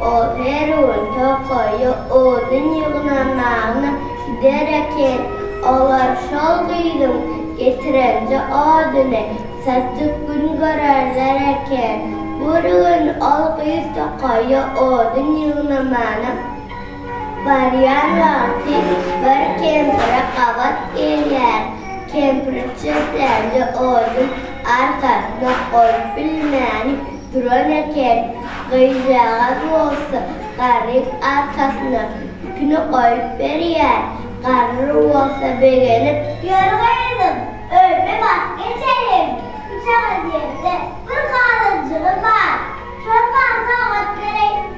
Ol her gün tokaýa odun ýygnamagyna gider eken. Olar şol gyzyň getirenje oduny satyp gün görerler eken. Bir gün ol gyz tokaýa odun ýygnamana barýan wagty bir kempire gabat gelýär. Kempir çöplenje odun arkasyna goýup bilmän. duran eken. Gyzjagaz bolsa garryň arkasyna ipini goýup berýär. Garry bolsa begenip. Ýör gyzym, öýüme baryp geçeliň. Üçagaz ýerde bir gazanjygym bar. Şony bana sowgat bereý.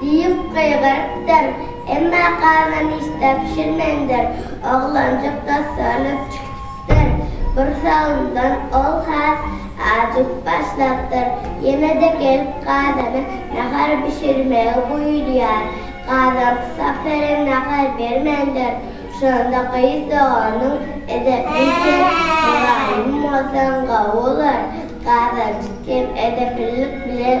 Diýip gygyrypdyr. Emma gana nişta bişirmändir. Oglanjyk dassanyp çykypdyr. Gursagyňdan ol has ajyp başlapdyr. Ýene-de gelip gazana nahar bişirmegi buýurýar. Gazan kysap beren nahar bermändir. Şonda gyz doganyň Edepli sen, mylaýym bolsaň gowy bolar. Gazanjyk hem edepillik bilen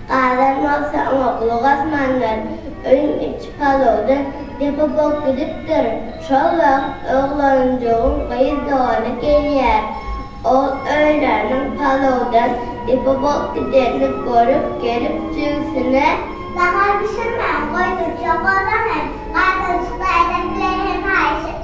Adam bolsa oňa gulak asmandyr. Öýüň içi palawdan depe bolup gidipdir. Şol wagt oglanjygyň gyz dogany gelýär. Ol öýleriniň palawdan depe bolup gidenini görüp gelip jigisine. Nahar bişirmän goýdurjak oglan-aý, gaýtalyşykly ädep bilen hem haýyş etdi.